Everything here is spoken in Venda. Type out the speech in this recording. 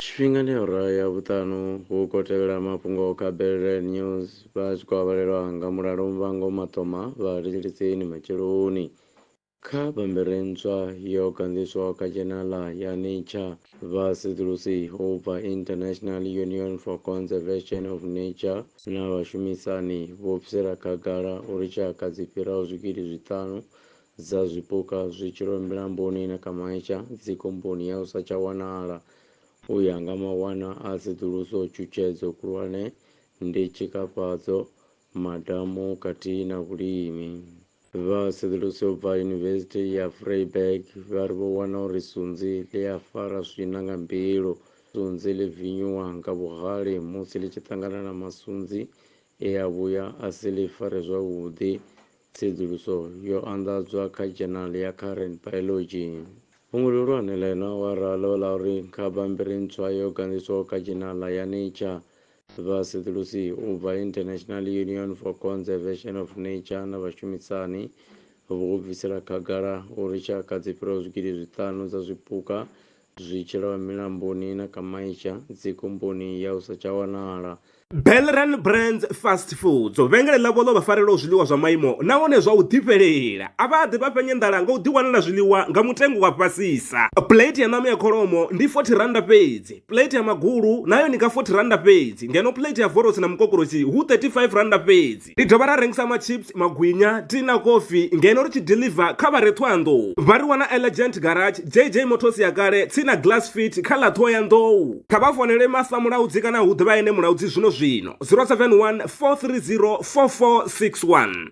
Tshifhingani awara ya vhuṱanu hu khou tevhela mafhungo kha Belrel News vha tshi khou avhalelwa nga mulalo muvhango maṱoma vha litshilitsini matsheloni. Kha bammbiri ntswa yo ganḓiswaho kha dzhenala ya Nature, vha sedzulusi u bva International Union for Conservation of Nature na vhashumisani vho bvisela khagala uri tshaka dzi fhiraho zwigidi zwiṱanu dza zwipuka zwi tshilwe milamboni na kha maitsha dzikomboni ya u sa tsha wanala. U ya nga mawanwa a tsedzuluso, tshutshedzo khulwane ndi tshikafhadzo, madamu khathihi na vhulimi. Vha tsedzuluso yo bva Yunivesithi ya Vryburg vha ri vho wana uri sunzi ḽi a fara swina nga mbilu. Sunzi ḽi vinyuwa nga vhuhali musi ḽi tshi ṱangana na masunzi e a vhuya a si ḽi fare zwavhuḓi. Tsedzuluso yo anḓadzwa kha dzhenali ya Current Biology. Fhungo ḽihulwane ḽa heneyo awara ḽo vha ḽa uri kha bammbiri ntswa yo ganḓiswaho kha dzhenala ya Nature, vhasedzulusi u bva International Union for Conservation of Nature na vhashumisani vho bvisela khagala uri tshaka dzi fhiraho zwigidi zwiṱanu dza zwipuka Zwi tshi lwa milamboni na kha maitsha, dzikhumbuni ya u sa tsha wanala. Belran Brands Fast Foods, vhengele ḽavho ḽo vha farelaho zwiḽiwa zwa maimo nahone zwa u ḓifhelela. A vha ḓi vha fhenya nḓala nga u ḓiwanela zwiḽiwa nga mutengo wa fhasisa. Plate ya ṋama ya kholomo ndi R40 fhedzi, plate ya magulu na yone ndi nga R40 fhedzi ngeno plate ya vorosi na mukokoroshi hu R35 fhedzi. University. Ri dovha ra rengisa machips, magwinya, tea na kofi ngeno ri tshi deliver kha vha re Ṱhohoyanḓou. Vha ri wana Elegant Garage, JJ Motors ya kale, tsini na Glass Fit kha ḽa Ṱhohoyanḓou. Kha vha founele Martha Mulaudzi kana hu ḓe vha ene Mulaudzi zwino zwino, 071 430 4461.